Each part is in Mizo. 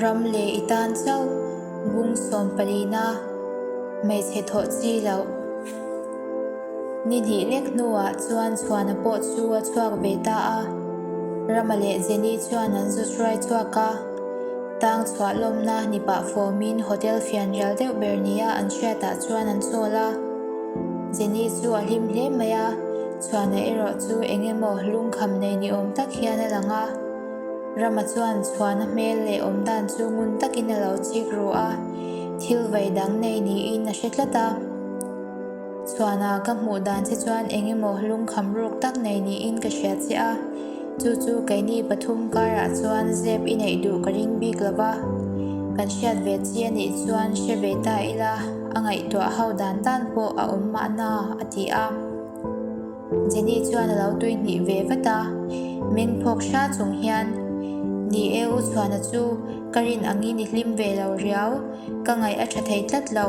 Ram leh i tan chauh bung sawm pali na hmeichhe thawh chi loh. Ni hnih lek hnuah chuan chhuahna pawh chu a chhuak ve ta a, Rama leh Jenny chuan an zu hruai chhuak a. Tang chhuah lawmna ni pah fawmin hotel fian rial deuh ber nia an hriatah chuan an chawl a. Jenny chu a hlim hle mai a, chhuahna erawh chu eng emaw lungkham nei ni awm tak hian a lang a. Rama chuan chhuahna hmel leh awm dan chu ngun takin a lo chik ru a, thil vei dang nei niin a hre tlat a. Suana ka hmuh dan che chuan eng emaw lungkham ruk tak nei niin ka hria chiah a. Chu chu keini pathum karah chuan zep i neih duh ka ring bik lo va. Kan hriat ve chi a nih chuan hre ve ta ila, a ngaihtuah ho dan tan pawh a awm mahna, a ti a. Jenny chuan a lo tui hnih ve vat a, meng phawk hra chung hian, Ni e, u Suana chu ka rin ang i ni hlim ve lo riau, ka ngaih a tha thei tlat lo.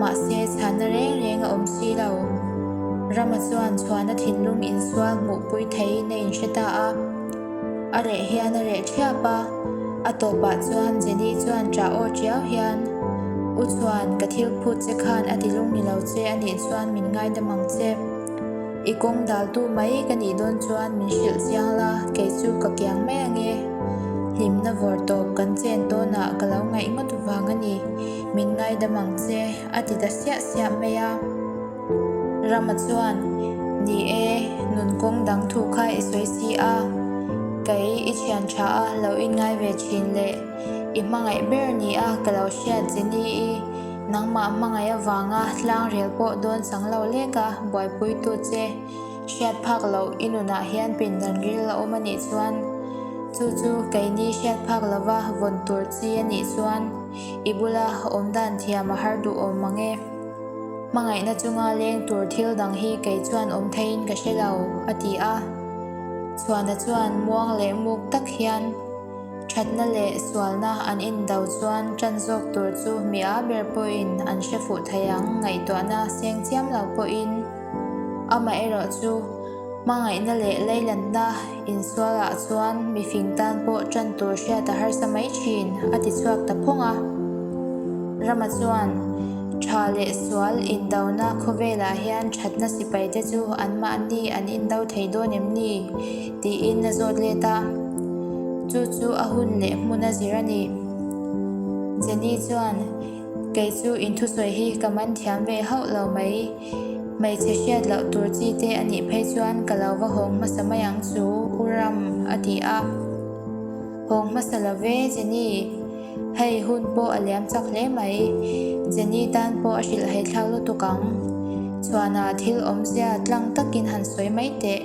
Mahse, chhana reng reng a awm si lo. Rama chuan chhuahna thinlung insual hmuhpui theiin a inhre ta a. A reh hian a reh thiap a. A tawpah chuan Jenny chuan tra aw tiau hian, U chuan ka thil phut che khan a ti lung ni lo che, a nih chuan min ngaidam ang che. I kawng daltu mai ka nih dawn chuan min hrilh chiang la, kei chu ka kiang mai ang e. Hlimna vawr tawp kan chen tawnah ka lo ngaih ngawt vang a ni. min ngaidam ang che a ti ta siah siah mai a. Rama chuan, Ni e, nun kawng dang thu kha i sawi si a, kei i thian tha a, lo in ngai ve thin le. I hmangaih ber nia ka lo hriat che ni i, nangmah hmangaih avanga hlangrial pawh dawn chang lo lek a, buaipuitu che, hriat phak lo i nunah hian pindan ril a awm a nih chuan, chu chu kei ni hriat phak lova vawn tur chi a nih chuan, I bula awm dan thiam a har duh awm ang e. Hmangaihna chunga leng tur thil dang hi kei chuan awm theiin ka hre lo, a ti a. Chhuana chuan muang leh muk tak hian thatna leh sualna an indo chuan tan zawk tur chu mi a ber pawhin an hre fuh thei ang, ngaihtuahna seng chiam lo pawhin. Amaherawhchu, hmangaihna leh leilanna Insualah chuan mifing tan pawh ṭan tur hriat a harsa mai ṭhin, a ti chhuak ta phawng a. Rama chuan ṭha leh sual indona khawvelah hian ṭhatna sipaite chu anmahni an indo thei dawn em ni? tiin a zawt let a. Chu chu a hun leh hmun a zir a ni. Jenny chuan. Kei chu inthusawi hi ka man thiam ve hauh lo mai. Hmeichhe hriat loh tur chi te a nih phei chuan ka lo va hawng hmasa mai ang chu u Ram a ti a. Hawng hmasa lo ve Jenny. Hei hun pawh a liam chak hle mai. Jenny tan pawh a hrilh haithlang lutuk ang. Chhuanah thil awmzia tlang takin han sawi mai teh.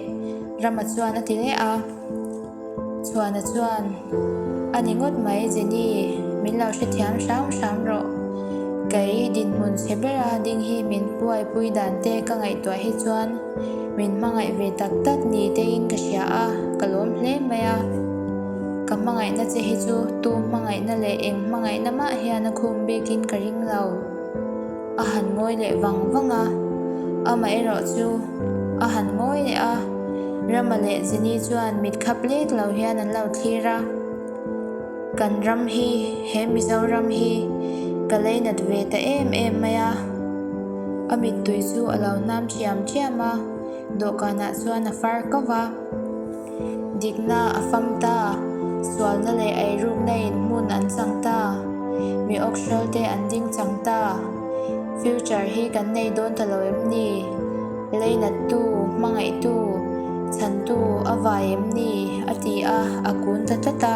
Rama chuan a ti leh a. Chhuana chuan, A ni ngawt mai Jenny, min lo hre thiam hram hram rawh. Kei dinhmun hre bera ding hi min buaipui dan te ka ngaihtuah hi chuan min hmangaih ve tak tak ni tein ka hria a, ka lawm hle mai a. Ka hmangaihna che hi chu tu hmangaihna leh eng hmangaihna mah hian a khum bikin ka ring lo. A han ngawi leh vang vang a, amah erawh chu a han ngawi leh a. Rama leh Jini chuan mit khap lek lo hian an lo thlir a, Kan ram hi, he Mizoram hi ka lei nat ve ta em em mai a. A mittui chu a lo hnam thiam thiam a, dawhkanah chuan a far kau va. Dikna a fam ta, sualna leh eirukna in hmun an chang ta, mi awk hrawl te an ding chang ta, future hi kan nei dawn ta lo em ni? Lei nat tu, hmangaih tu, chhan tu a vai em ni? a ti a, a kun ta tlat a.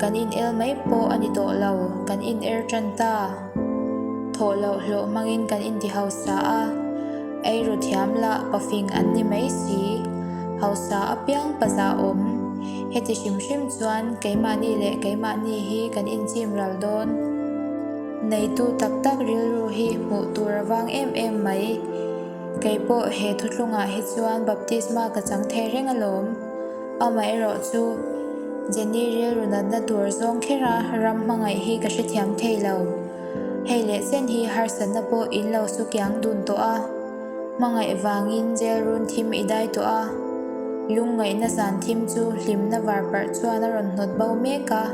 Kan in el mai pawh a ni tawh lo, kan in er tan ta. Thawh loh hlawh hmangin kan in ti hausa a, eiru thiam lah pa fing an ni mai si. Hausa apiang paza awm. Heti hrim hrim chuan keimahni leh keimahni hi kan in chim ral dawn. Neitu tak tak rilru hi hmuh tur a vang em em mai. Kei pawh he thutlungah hi chuan baptisma ka chang thei reng alawm. Amaherawh chu, Jenny rilru natna tur zawng khera ram hmangaih hi ka hrethiam thei lo. Hei leh chen hi harsatna pawh in lo su kiang dun tawh a. Hmangaih vangin jail run thim i dai tawh a. Lungngaihna zan thim chu hlimna var parh chuan a rawn hnawt bo mek a.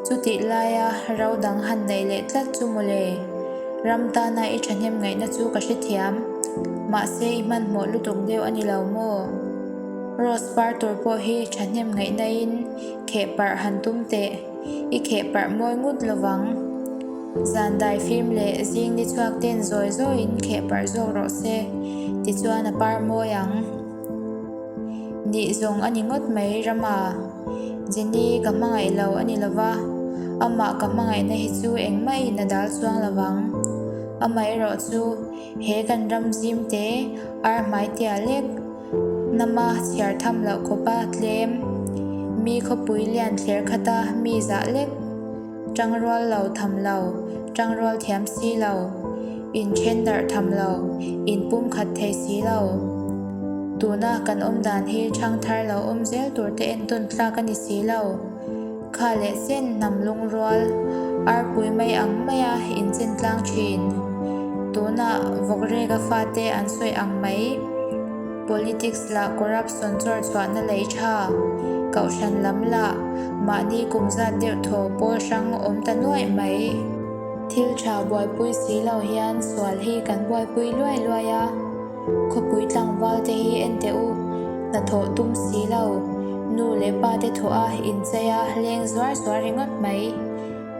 Chutih laia ro dang han neih leh tlat chu maw le. Ram tana i thahnem ngaihna chu ka hrethiam. Mahse i hmanhmawh lutuk deuh a ni lo maw? Rose par tur pawh hi thahnem ngaih naihin kheh parh han tum teh, i kheh parh mawi ngut lo vang. Zan dai fim leh zing ni chhuak ten zawi zawiin kheh parh zawk rawh se tichuan a par mawi ang. Nih zawng a ni ngawt mai rama Jenny ka hmangaih lo a ni lova, amah ka hmangaihna hi chu engmaiin a dal chuang lo vang. Amaherawhchu he kan ram zim te arhmai tiah lek. Nama chhiar tham loh khawpa tlem mi khawpui lian thler khata mi zah lek tang rual lo tham lo tang rual thiam si lo in then darh tham lo in pum khat thei si lo tuna kan awm dan hi thang thar lo awm zel tur te entawn tlak a ni si lo. Kha leh sen hnam lungrual arpui mai ang mai a inchen tlang thin. Tuna vawk reka fa te an sawi ang mai. Politics lah corruption chawr chhuahna lei tha, Kohhran lam lah mahni kum zat deuh thaw pawl hrang awm ta nuaih mai. Thil tha buaipui si lo hian sual hi kan buaipui luai luai a. Khawpui tlangval te hi en teh u, hnathawh tum si lo. Nu leh pa te thawh a inchei a leng zuar zuar ringawt mai.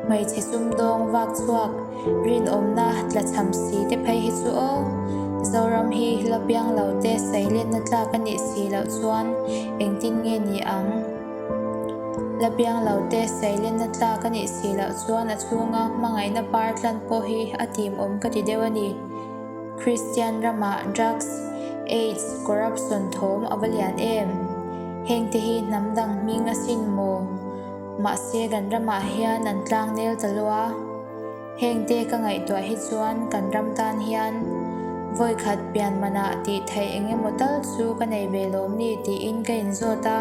Hmeichhe sumdawng vak chhuak rinawmna tla chham si te phei hi chu aw. Zoram hi la piang lo te sailetna tlak a nih si loh chuan engtin nge ni ang? La piang lo te sailetna tlak a nih si loh chuan a chhunga hmangaihna par tlan pawh hi a timawm ka ti deuh a ni. Kristian ramah drugs, aids, corruption thawm a va lian em? Hengte hi hnam dang hming a sin maw? Mahse kan ramah hian an tlang nel ta lo a. Hengte ka ngaihtuah hi chuan kan ram tan hian vawikhat pian manah tih theih eng emaw tal chu ka nei ve lawm ni tiin ka inzawt a.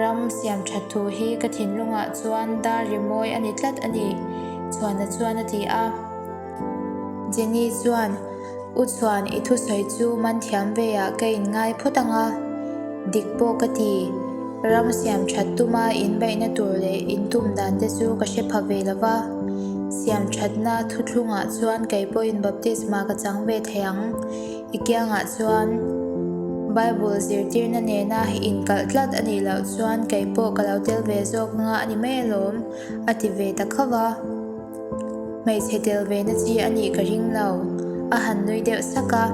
Ram siam tha thu hi ka thinlungah chuan dar rimawi a ni tlat a ni, Chhuana chuan a ti a. Jenny chuan, U Chuan, i thusawi chu man thiam veiah ka in ngai phawt ang a, dik pawh ka ti. Ram siam that tuma in baihna tur leh in tum dan te chu ka hre pha ve lova, siam thatna thuthlungah chuan kei pawh in baptisma ka chang ve thei ang. I kiangah chuan Bible zirtirna nena in kalh tlat a nih loh chuan kei pawh ka lo tel ve zawk anga a ni mai alawm, a ti ve ta khauh a. Hmeichhe tel vena chi a nih ka ring lo, a han nui deuh sak a.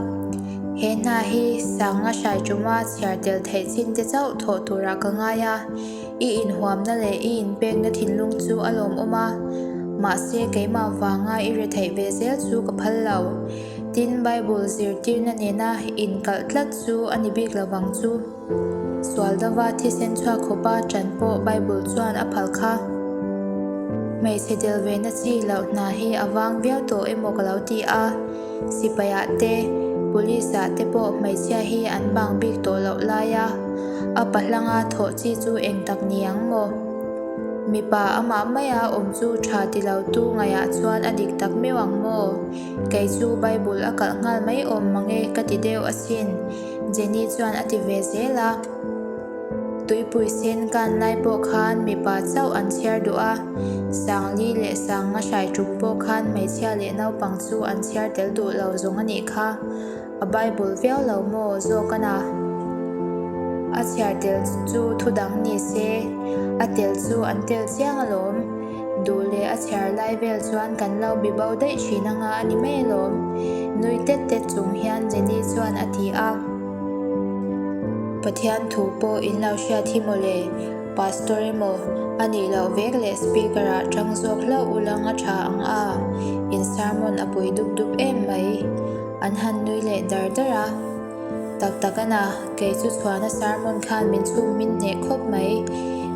He hna hi Sanga hrai ṭuma chhiar tel theih chin te chauh thawh turah ka ngai a, i inhuamna leh i inpekna thinlung chu a lawmawm a. Mahse, keimah vanga i re theih ve zel chu ka phal lo. Tin, Bible zirtirna nena inkalh tlat chu a ni bik lovang chu. Sual dova thisen chhuak khawpa ṭan pawh Bible chuan a phalh kha. Hmeichhe delvena chi loh hna hi a vang viau tawh emaw ka lo ti a. Sipaiah te, police ah te pawh hmeichhia hi an bang bik tawh loh lai a. A pa hlanga thawh chi chu eng tak ni ang maw? Mipa amah maia awm chu ṭha ti lo tu ngaiah chuan a dik tak meuh ang maw? Kei chu Bible a kalh nghal mai awm mange ka ti deuh asin. Jenny chuan a ti ve zel a, Tuipui sen kan lai pawh khan mipa chauh an chhiar duh a, Sangli leh Sanga hrai ṭuk pawh khan hmeichhia leh naupang chu an chhiar tel duh lo zawng a nih kha, a Bible viau lo maw zawk a na? A chhiar tel chu thu dang ni se, a tel chu an tel chiang alawm. Duh leh a chhiar lai vel chuan kan lo bi bo daih thin anga a ni hmel awm. Nui tet tet chung hian Jenny chuan a ti a. Pathian thu pawh in lo hriat hi maw le, Pastor emaw a nih loh vek leh Speaker ah tang zawk hlauh u lang a tha ang a, in sermon a pui dup dup em mai. An han nui leh dar dar a. Tak tak a na, kei chu chhuahna sarmon khan min chhung min hneh khawp mai.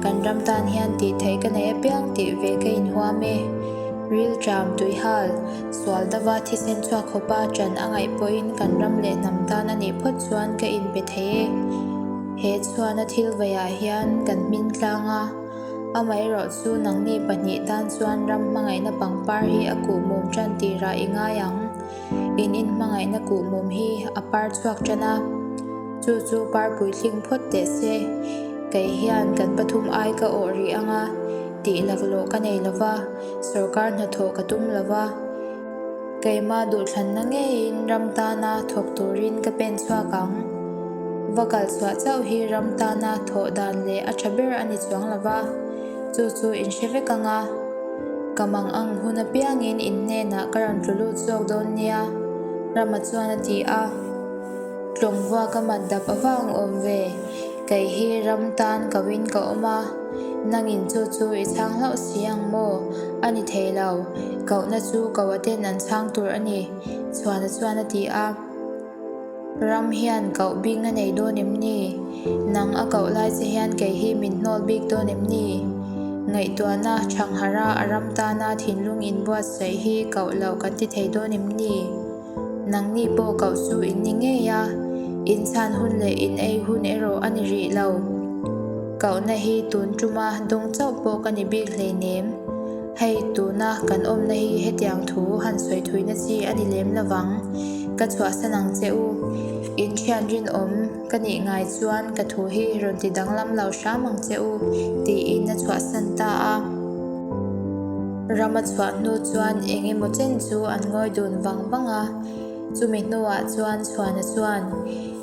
Kan ram tan hian tih theih ka nei apiang tih ve ka inhuam e. Rilṭam, tuihal, sual dava thisen chhuak khawpa ṭan a ngaih pawhin kan ram leh hnam tan a nih phawt chuan ka in pe thei e. He chhuahna thil veiah hian kan hmin tlang a, amaherawh chu nangni pahnih tan chuan ram hmangaihna pangpar hi a kuhmawm ṭan tirah i ngai ang. In inhmangaihna kuh mum hi a par chhuak tan a, chu chu par pui tling phawt teh se. Kei hian kan pathum ai ka awh rih ang a, tih laklawh ka nei lo va, sorkar hnathawh ka tum lo va. Keimah duhthlanna ngeiin ram tana thawk turin ka pen chhuak ang. Va kalchhuah chauh hi ram tana thawh dan leh a tha ber a ni chuang lo va. Chu chu in hre vek anga, ka mang ang hun apiangin in hnenah ka rawn tlu lut zawk dawn nia Rama chuan a ti a. Tlawngva ka mat dap avang awm ve, kei hi ram tan kauin ka awm a, nangin chu chu i chhang hlauh si ang maw? A ni thei lo, kauhna chu kauaten an chhang tur a ni, Chhuana chuan a ti a. Ram hian kauh bik na nei dawn em ni? Nang a kauh lai che hian kei hi min hnawl bik dawn em ni? Ngaihtuahna, Thangharha a ram tana thinlung in buat saih hi kauh loh kan ti thei dawn em ni? Nang ni pawh kauh chu in ni ngei a, in chhan hun leh in ei hun erawh a ni rih lo. Kauhna hi tun tuma dawng chauh pawh ka ni bik hlei nem. Hei tuna kan awmna hi hetiang thu han sawi thuina chi a ni lem lovang. Ka chhuahsan ang che u. In thian rinawm ka nih ngai chuan ka thu hi rawn ti danglam lo hram ang che u, tiin a chhuahsan ta a. Rama chhuah hnu chuan eng emaw chen chu an ngawi dun vang vang a. Chumi hnuah chuan chhuahna chuan.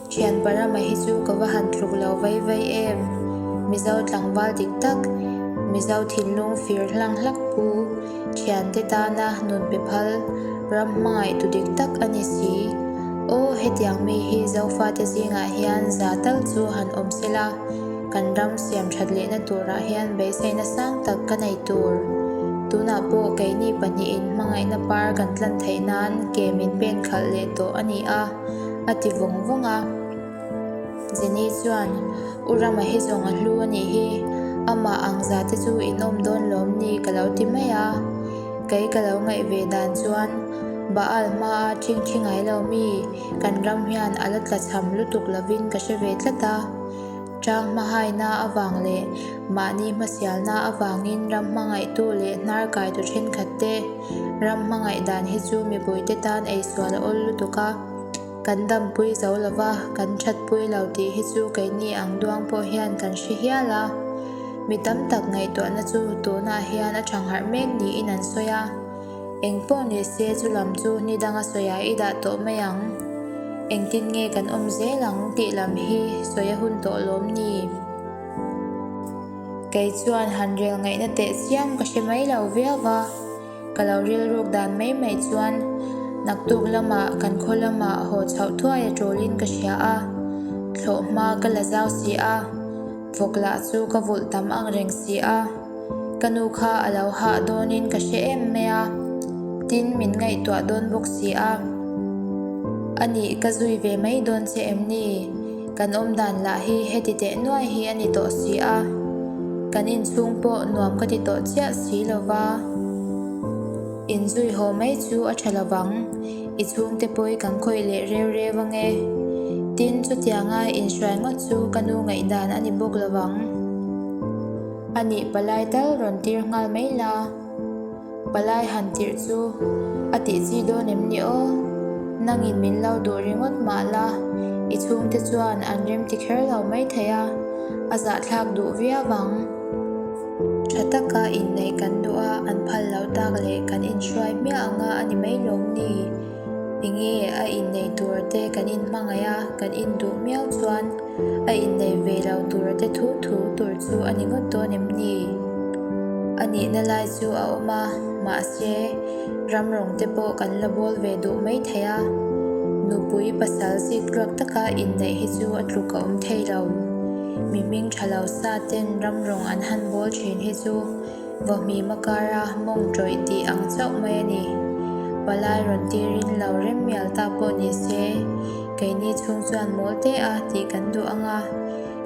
Thian Parama hi chu ka va han tluk lo vai vai em! Mizo tlangval dik tak, Mizo thinlung fir hlang hlak pu Thian te tana nun pe phal ram hmangaih tu dik tak a ni si. Aw, hetiang mi hi Zofa te zingah hian za tal chu han awm se la, kan ram siam that lehna turah hian beiseina sang tak ka nei tur. Tunah pawh keini pahnihin hmangaihna par kan tlan theih nan ke min pen khalh leh tawh a ni a. a ti vawng vawng a. Jenny chuan, U Rama hi zawng a hlu a nih hi, amah ang za te chu in awm dawn lawm ni ka lo ti mai a. Kei ka lo ngaih ve dan chuan Baal hma a ṭhing ṭhi ngai lo mi kan ram hian a la tla chham lutuk lovin ka hre ve tlat a. Tang hmahaina avang leh mahni hmasialna avangin ram hmangaihtu leh hnarkaitu thenkhat te ram hmangaih dan hi chu mipui-te tan eisual a awl lutuk a, kan dampui zo lo va, kan thatpui lo tih hi chu keini ang duang pawh hian kan hre hial a. Mi tam tak ngaihtuahna chu tunah hian a tha ngharh mek niin an sawi a. Eng pawh ni se chu lam chu ni danga sawiah i dah tawh mai ang. Engtin nge kan awm zel ang tih lam hi sawi a hun tawh lawm ni? Kei chuan han rel ngaihna teh chiang ka hre mai lo viau va, ka lo rilruk dan mai mai chuan naktuk lamah kan khaw lamah haw chhoh thuai a tawlin ka hria a, thlawh hma ka la zau si a. Vawk lah chu ka vulh tam ang reng si a, ka nu kha a lo hah dawnin ka hre em mai a, tin min ngaihtuah dawn bawk si a, anih ka zui ve mai dawn che em ni? Kan awm dan lah hi heti teh nuai hi a ni tawh si a, kan inchhung pawh nuam ka ti tawh chiah si lo va, inzui haw mai chu a tha lo vang. I chhungte pawhi kan khawih leh reu reu ange. Tin, chutianga inhruai ngawt chu ka nu ngaih dan a ni bawk lo ang. A nih palai tal rawn tir nghal mai la, palai han tirh chu a tih chi dawn em ni aw? Nangin min lo duh ringawt mah la, i chhungte chuan an remti kher lo mai thei a, a zahthlak duh viau ang. Tha taka inneih kan duh a, an phal loh tak leh kan inhruai miah ang a, a ni mai lawm ni? Enge a inneih tur te kan inhmangaih a, kan induh miau chuan a inneih ve lo tur te thu thu tur chu a ni ngawt dawn em ni? A nihna lai chu a awm a, mahse, ram rawng te pawh kan la bawl ve duh mai thei a. Nupui pasal zikluak taka inneih hi chu a tluk a awm thei lo. Mihming tha lo sa ten ramrawng an han bawl thin hi chu vawhmima kara mawng tawih tih ang chauh mai a ni. Palai rawn tirin lo rem mial ta pawh ni se, keini chhung chuan mawl te a tih kan duh ang a,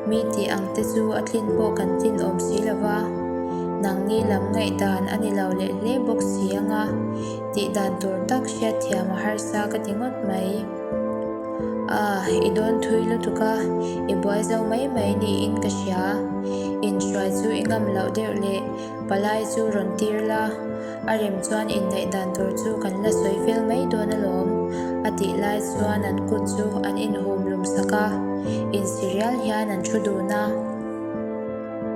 mi tih ang te chu a tlin pawh kan tlin awm si lo va, nang ni lam ngaih dan a ni lo leh hle bawk si ang a, tih dan tur tak hriat thiam a harsa ka ti ngawt mai. Ah, i dawn thui lutuk a, i buai zo mai mai niin ka hria. Inhruai chu i ngam loh deuh le, palai chu rawn tir la, a rem chuan inneih dan tur chu kan la sawi fel mai dawn alawm. A tih lai chuan an kut chu an inhum lum sak a, insirial hian an thu dun a.